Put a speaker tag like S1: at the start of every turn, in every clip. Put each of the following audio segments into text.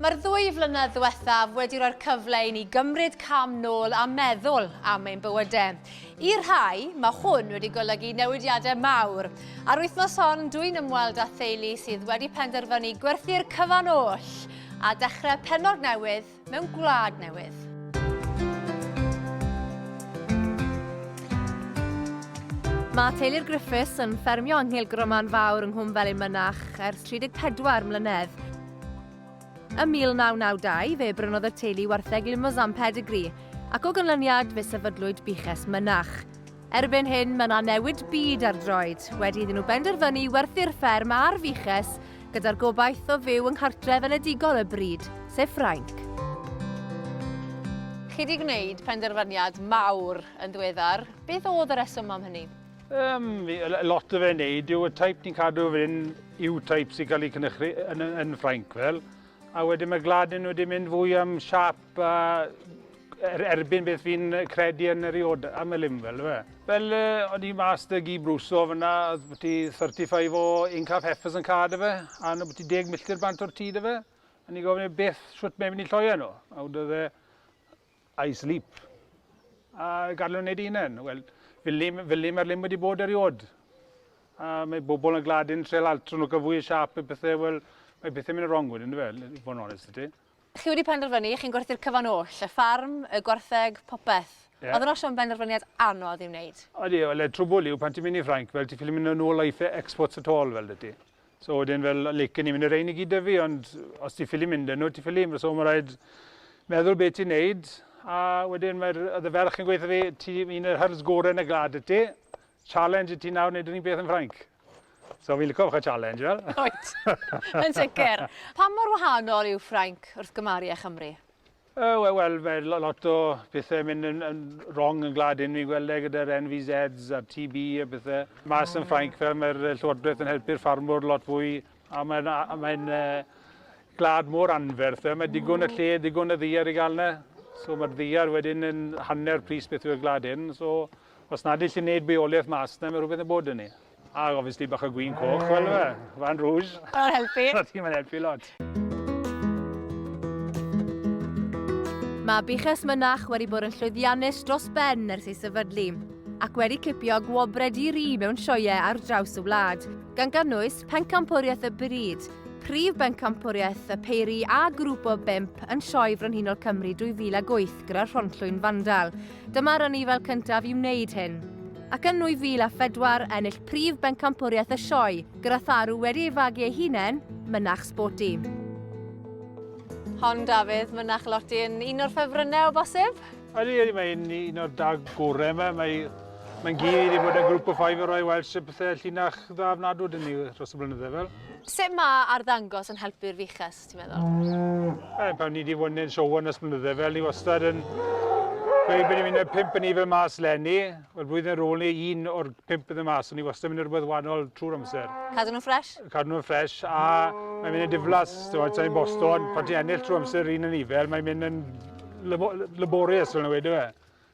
S1: Mae'r ddwy flynedd ddiwethaf wedi rhoi'r cyfle i ni gymryd cam nôl a meddwl am ein bywydau. I rhai, mae hwn wedi golygu newidiadau mawr. Ar wythnos hon, dwi'n ymweld â theulu sydd wedi penderfynu gwerthu'r cyfan oll a dechrau pennog newydd Mewn gwlad newydd. Mae teulu'r Griffiths yn ffermio yng Nghil Groman Fawr yng Nghwm Felin Mynach ers 34 mlynedd. Ym 1992, fe brynodd y teulu wartheg Limousin Pedigree, ac o ganlyniad fe sefydlwyd Buches Mynach. Erbyn hyn, mae yna newid byd ar droed, wedi iddyn nhw benderfynu werthu'r fferm a'r fuches, gyda'r gobaith o fyw yng nghartref enedigol y bryd, sef Ffrainc. Chi wedi gwneud penderfyniad mawr yn ddiweddar, beth oedd y rheswm am hynny? Yym,
S2: lot o fe'n wneud yw y type ni'n cadw fan hyn yw type sy'n cael ei cynhyrchu yn Ffrainc fel, a wedyn mae Gladin wedi mynd fwy am siâp Pa er, erbyn beth fi'n credu yn yr iod am y lim fel fe? Fel o'n i mas dy gi brwso fyna, oedd bod ti 35 o incaf heffers yn cad y fe, a nhw bod ti deg milltir bant o'r tyd y fe. A ni gofyn e beth, siwt mae'n mynd i lloia nhw. A wyd oedd e, I sleep. A gadw wneud unen. Wel, fel ni, fel ni mae'r lim wedi bod eriod. A mae bobl yn gladin trel altro nhw cael fwy y siap y pethau, wel, mae bethau mynd y wrong wedyn, fe, i fod yn onest i ti. Chi wedi penderfynu,
S1: chi'n gwerthu'r cyfan oll, y ffarm, y gwartheg, popeth. Ie. Oedd yn oll yn benderfyniad anodd i'w wneud? Odi, wel y trwbwl
S2: yw pan ti'n mynd i Ffrainc, fel ti ffili mynd yn ôl a ife exports at all fel 'da ti. So wedyn fel licen i mynd y rhein i gyd 'da fi ond os ti ffili mynd â nhw ti ffili, so ma' raid meddwl be' ti'n neud a wedyn mae'r oedd y ferch yn gweud 'tha fi ti un o'r hyrds gore yn y gwlad wyt ti, challenge i ti nawr neud yr un peth yn Ffrainc. So fi'n lico fach o challenge fel. Wyt.
S1: Yn sicr. Pa mor wahanol yw Ffrainc wrth gymaru â Chymru? O we- wel
S2: mae lo- lot o pethe mynd yn yn rong yn gwlad hyn fi'n gweld e gyda'r NVZs a'r TB a pethe. Mas yn Ffrainc fel mae'r yy llywodraeth yn helpu'r ffarmwr lot fwy a mae'n a- a mae'n yy gwlad mor anferth fel mae digon o lle digon o ddaear i ga'l 'na. So ma'r ddaear wedyn yn hanner pris beth yw'r gwlad hyn so Os nad yll yn neud bywoliaeth mas 'na ma' rwbeth yn bod 'da ni. A gofyn sti bach o gwin coch fel yfe? Vin rouge. Ma'n helpu. Sa ti
S1: mae'n helpu lot. Mae buches mynach wedi bod yn llwyddiannus dros ben ers ei sefydlu, ac wedi cipio gwobrau di-ri mewn sioeau ar draws y wlad, gan gynnwys Pencampwriaeth y Bryd, Prif Bencampwriaeth y Peiri a Grŵp o Bump yn Sioe Frenhinol Cymru 2008 gyda'r Rhonllwyn Fandal. Dyma'r anifail cyntaf i wneud hyn, ac yn 2004 ennill prif bencampwriaeth y sioe, gyda tharw wedi ei fagu ei hunain, mynach sboti. Hon Dafydd, mynach Loti yn un o'r ffefrynnau o bosib? Ydy, ydy, mae'n
S2: un o'r dag gorau yma. Mae, mae'n gyd wedi bod yn grŵp o ffaif o roi weld sut pethau llinach dda fnadw dyn ni dros y blynydde fel. Sut mae
S1: arddangos yn helpu'r fiches? lot, ti'n meddwl? E, pan ni wedi
S2: fod yn siowan ys mlynydde fel, ni wastad yn gweud bod ni'n mynd â'r pimp yn ni fel mas lenni. Wel, blwyddyn ar ôl ni, un o'r pimp yn y mas, ond ni wastad yn mynd rhywbeth wahanol trwy'r amser. Cadw nhw'n ffres?
S1: Cadw nhw'n ffres, a
S2: mae'n mynd yn diflas, ti'n ti'n Boston, pan ti'n ennill trwy amser un yn ifel, mae'n mynd yn laborious fel yna wedi fe.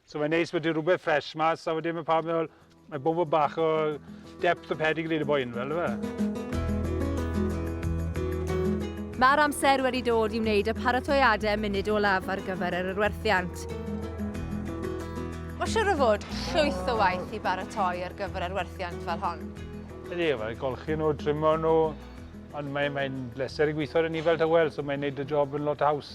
S2: So mae'n neis bod dim rhywbeth ffres mas a wedyn mae pawb yn meddwl mae bod fod bach o depth o pedigree yn y boi yn fel yma.
S1: Mae'r amser wedi dod i wneud y paratoiadau munud olaf ar gyfer yr arwerthiant. Mae siwr o fod llwyth o waith i baratoi ar gyfer arwerthiant fel hon. Ydy, mae
S2: golchi nhw, trimo nhw, ond mae'n mae bleser i gweithio ar y ni fel tywel, so mae'n neud y job yn lot haws.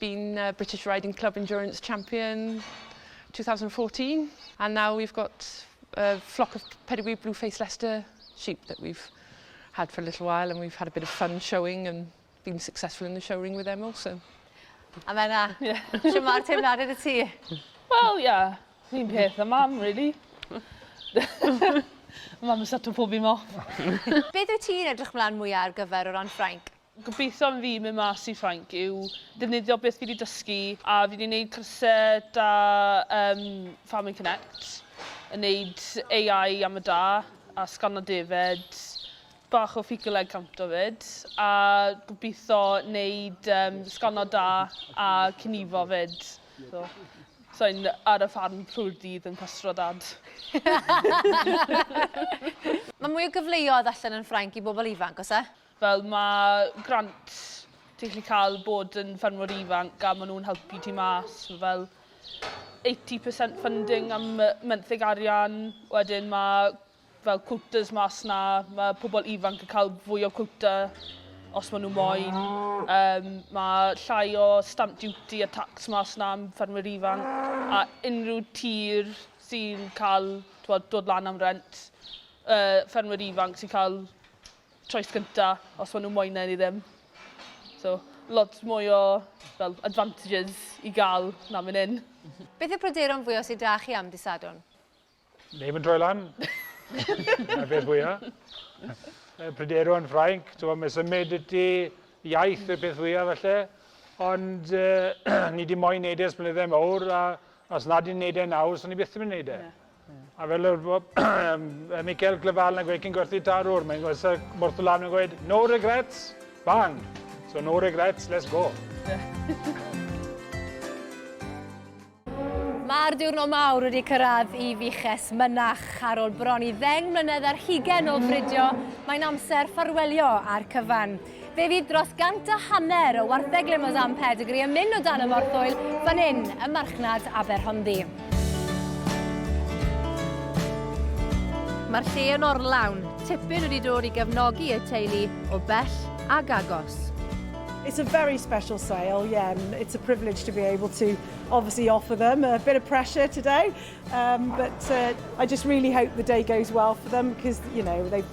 S3: been uh, British Riding Club Endurance Champion 2014 and now we've got a flock of pedigree blue faced Leicester sheep that we've had for a little while and we've had a bit of fun showing and been successful in the showring with them also. A
S1: Menna,
S3: yeah.
S1: sy'n mae'r teimlad yn y ti? Wel,
S3: ia,
S1: fi'n
S4: peth a mam, really. mam yn sato pob un mo. Beth wyt ti'n
S1: edrych mlaen mwyaf ar gyfer o ran Ffrainc? Gobeithio am fi
S4: mynd mas i Ffrainc yw defnyddio beth fi 'di dysgu a fi 'di neud cyrse da ym Farming Connect yn neud AI am y da a sgano defaid, bach o fecal egg counter 'fyd a gobeithio neud yym sgano da a cnifo 'fyd. So sai'n ar y ffarm trwy'r dydd yn pastro dad.
S1: Mae mwy o gyfleoedd allan yn Ffrainc i bobl ifanc, oes e? Fel mae
S4: grant ti'n gallu cael bod yn ffermwr ifanc a maen nhw'n helpu ti mas fel 80% funding am menthyg arian. Wedyn mae fel quotas mas na, mae pobl ifanc yn cael fwy o quota os maen nhw moyn. Um, mae llai o stamp duty a tax mas na am ffermwyr ifanc a unrhyw tir sy'n cael dod lan am rent, uh, ffermwyr ifanc sy'n cael choice gynta os ma' nhw'n moyn e neu ddim. So lot mwy o fel advantages i gael na fan hyn. Beth yw'r pryderon
S1: fwya sy 'da chi am Dy' Sadwrn? Neb
S2: yn troi lan. Dyna'r peth fwya. Y pryderon Ffrainc, t'mo' mae symud iti, iaith yw'r peth fwya falle. Ond ni 'di moyn neud e ers blynydde mowr a os nad ni'n neud e nawr, so ni byth yn myn' i neud e. A fel yr yy Mikel Glyfal yn gweud cyn gwerthu tarwr, mae'n gweud sir Morth Lan yn gweud no regrets, bang! So no regrets, let's go!
S1: Mae'r diwrnod mawr wedi cyrraedd i Fiches Mynach. Ar ôl bron i ddeng mlynedd ar hugen o bridio, mae'n amser ffarwelio a'r cyfan. Fe fydd dros gant a hanner o wartheg Limousin Pedigree yn mynd o dan y morthwyl fan hyn ym marchnad Aberhonddu. Mae'r lle yn orlawn, tipyn wedi dod i gefnogi y teulu o bell ac agos. It's a
S5: very special sale, yeah, and it's a privilege to be able to obviously offer them a bit of pressure today, um, but uh, I just really hope the day goes well for them because, you know, they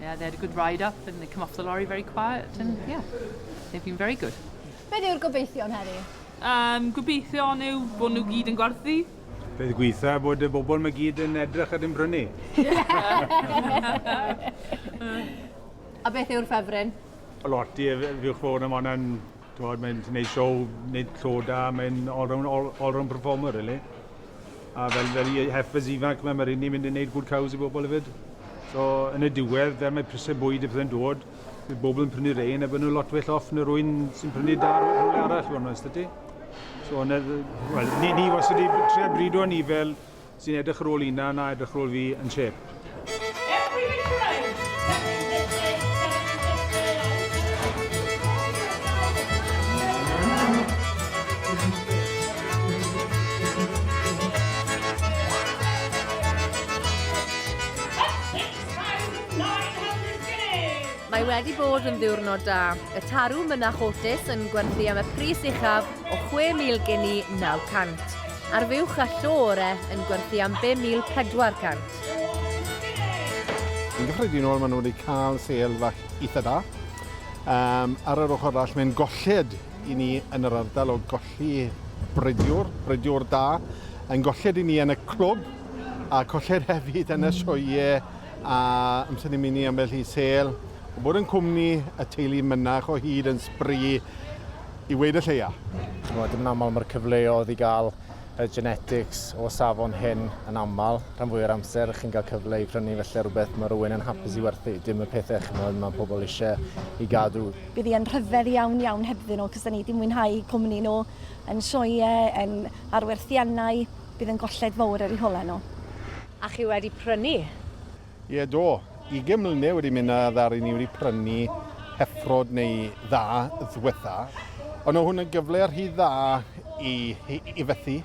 S3: Yeah, they had a good ride up and they come off the lorry very quiet and yeah, they've been very good. Beth yw'r gobeithion
S1: heddi? Um, gobeithion
S4: yw bod nhw gyd yn gwerthu. Beth gweitha
S2: bod y bobl mae gyd yn edrych ar yn brynu.
S1: A beth yw'r ffefryn? Lot i
S2: fiwch fawr am hwnna'n Twod, mae'n gwneud siow, nid llaw da, mae'n all-round all, all performer, really. A fel, fel i heifers ifanc, mae'n rhywun ni'n mynd i wneud good cows i bobl hefyd. So, yn y diwedd, fel mae prisau bwyd y pethau'n dod, bydd bobl yn prynu rein a bydd nhw lot well off na rwy'n sy'n prynu da rhywle arall, o'n oes ti. So, well, ni, ni wastad wedi trio brido ni fel sy'n edrych ar ôl Ina na edrych ar ôl fi yn chêp.
S1: Mae wedi bod yn ddiwrnod da. Y tarw mynach Otis yn gwerthu am y pris uchaf o 6,000 gini 900. Ar fuwch a llo ore yn gwerthu am 5,400.
S6: Yn gyffredinol maen nhw wedi cael sêl fach eitha da. Um, ar yr ochr arall mae'n golled i ni yn yr ardal o golli bridiwr, bridiwr da, yn golled i ni yn y clwb a colled hefyd yn y sioe a amser ni'n mynd i ambell i sêl. O bod yn cwmni y teulu mynach o hyd yn sbri i weud y lleia. Ch'mod, yn aml
S7: mae'r cyfleodd i gael y genetics o safon hyn yn aml, rhan fwy o'r amser chi'n cael cyfle i prynu felly rhywbeth mae rhywun yn hapus i werthu, dim y pethau ch'mod mae pobl eisiau i gadw. Bydd hi yn rhyfedd
S8: iawn iawn hebddyn nhw, cos da ni di mwynhau cwmni nhw yn sioe, yn arwerthiannau, bydd yn golled fawr ar eu holau nhw. A chi wedi
S1: prynu? Ie, do.
S6: Ugain mlynedd wedi mynd a ddaru ni wedi prynu heffrod neu dda ddwetha. Ond o hwn yn gyfle rhy dda i, i, i fethu.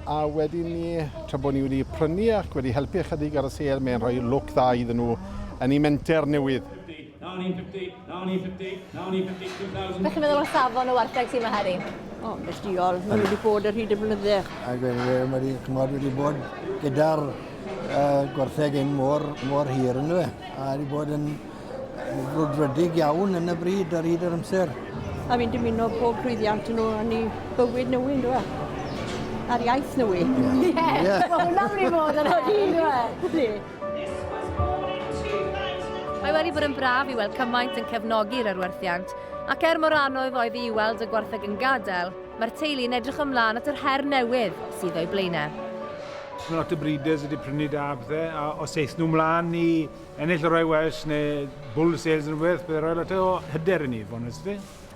S6: A wedyn ni, tra bod ni wedi prynu ac wedi helpu ychydig ar y sêl, mae'n rhoi look dda iddyn nhw yn eu menter newydd.
S9: Beth chi'n meddwl o safon y
S1: wartheg sy'n yma heddi? O, yn ddiol.
S10: Mae wedi bod ar hyd y blynydde. Ac mae wedi
S11: cymod wedi bod gyda'r uh, gwartheg yn mor, mor hir yn dweud. A wedi bod yn brwdfrydig iawn yn y bryd ar hyd yr amser. A fi'n dymuno
S10: pob llwyddiant yn nhw yn ei bywyd newydd, yn dweud a'r iaith newydd. Ie, yeah.
S1: yeah. mae hwnna'n mynd i fod yn hynny, dwi? Mae wedi bod yn braf i weld cymaint yn cefnogi'r arwerthiant, ac er mor anodd oedd i weld y gwartheg yn gadael, mae'r teulu yn edrych ymlaen at yr her newydd sydd o'i blaenau. Mae lot o
S2: breeders wedi prynu da pethau, a os eith nhw mlaen i ennill y Royal Welsh neu Bull Sales neu rhywbeth, byddai rhoi lot o hyder i ni, fod yn onest 'da ti.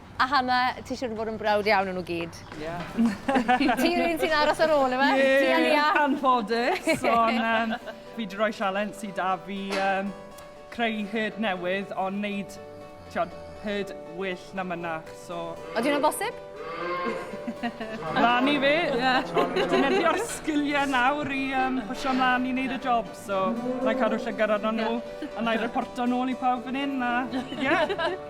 S4: A Hannah,
S1: ti siwr o fod yn brawd iawn o nhw gyd? Ie.
S4: Ti'r
S1: un sy'n aros ar ôl, yma? Ie, ti a Lia?
S4: anffodus, ond um, fi wedi rhoi sialens sydd da fi um, creu hyd newydd, ond wneud, tiod, hyd well na mynach, so... Oeddi hwnna'n bosib?
S1: Lan
S4: i fi, defnyddio'r sgiliau nawr i um, pwysio mlaen i wneud y job. So, na i cadw llygad arno nhw, a na i reporto nôl i pawb fan hyn, a ie. Yeah.